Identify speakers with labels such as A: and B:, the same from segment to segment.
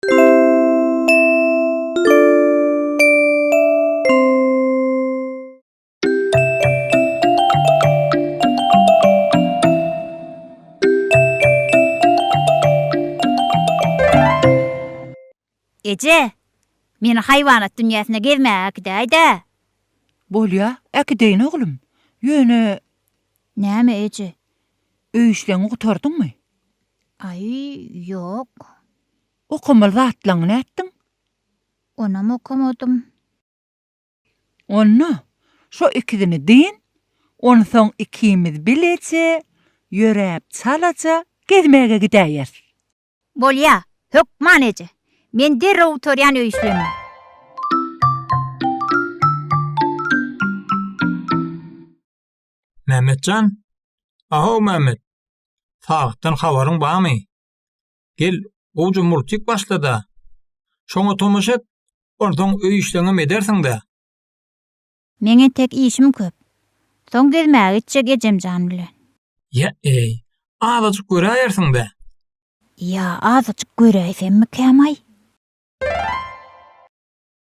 A: Eje, meni haýwanat dünýäsine gezmäge äkidäý-dä. Bolýa, äkideýin oglum. Ýöne. Näme eje? Öý işleňi gutardyňmy? Aý, ýok. Okamaly zatlaňy nätdiň? Onam okamadym. Onda, şo ikisini dyn, onsoň ikimiz bileje, ýöräp çalaja gezmäge gidäýeris. Bolýa, hökman eje. Men derrew gutarýan öý işlerimi. Mämmetjan? A-how Mämmet! Sagytdan habaryň barmy? Gel, gowja murtik başla-da, şoňa tomaşa et, onsoň öý işleňem edersiň-dä. Meň entek işim köp. Soň gezmäge gitjek ejemjan bilen. Ýa-eý, azajyk göräýersiň-dä. Ýa, azajyk göräýsemmikäm-aý?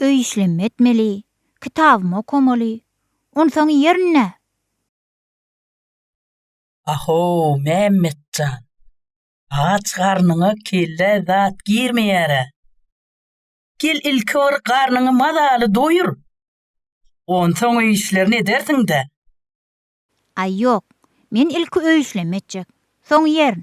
A: Öý işlemi etmeli, kitabymy okamaly. Onsoň iýerin nä? A-how, Mämmet jan! Aç garnyňa kellä zat girmeýär-ä. Gel ilki bir garnyňy mazaly doýur. Onsoň öý işlerini edersiň-dä. Aý ýok, men ilki öý işlemi etjek. Soň iýerin.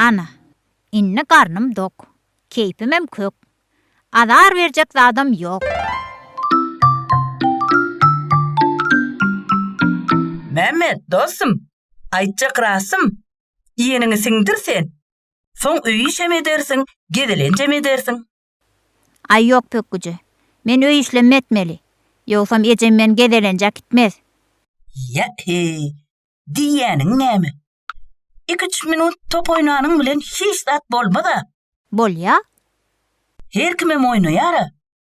A: Ana, indi garnym dok, keýpimem kök, Azar berjek zadam ýok. Mämmet, dostum, aýtjak rasym, Iýeniňi siňdir sen, Soň öý işem edersiň, gezelenjem edersiň. Aý ýok pökgüje. Men öý işlem etmeli. Ýogsam ejem meni gezelenje akitmez. Ýa-heý, diýýäniň näme? Iküç minut top oýnanyň bilen hiç zat bolmaz-a. Bolýa. Her kimem oýnaýar-a.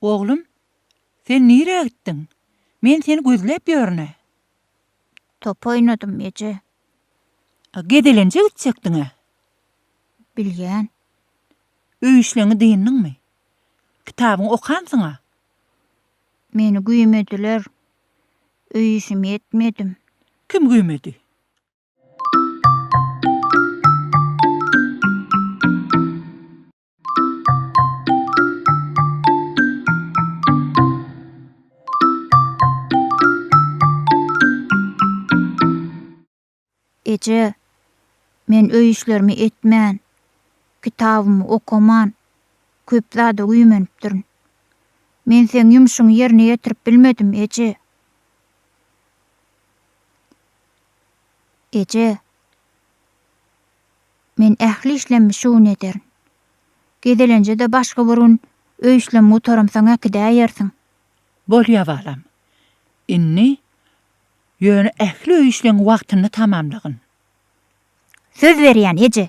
A: Oglum, sen nirä gitdiň? Men seni gözläp ýörün-ä. Top oýnadym, eje. A gezelenje gitjekdiň-ä? Bilýän. Öý işleňi dyndyňmy? Kitabyňy okansyň-a? Meni güýmediler. Öý işimi etmedim. Kim güýmedi? Eje, men öý işlerimi etmän, kitabymy okaman, köp zada güýmenipdirin. Men seň ýumşuňy ýerine ýetirip bilmedim, eje. Eje. Men ähli işlemi şu gün ederin. Gezelenje-de başga bir gün öý işlemi gutaramsoň äkidäýersiň. Bolýar, balam. Indi, ýöne ähli öý işleňi wagtynda tamamlagyn. Söz berýän, eje!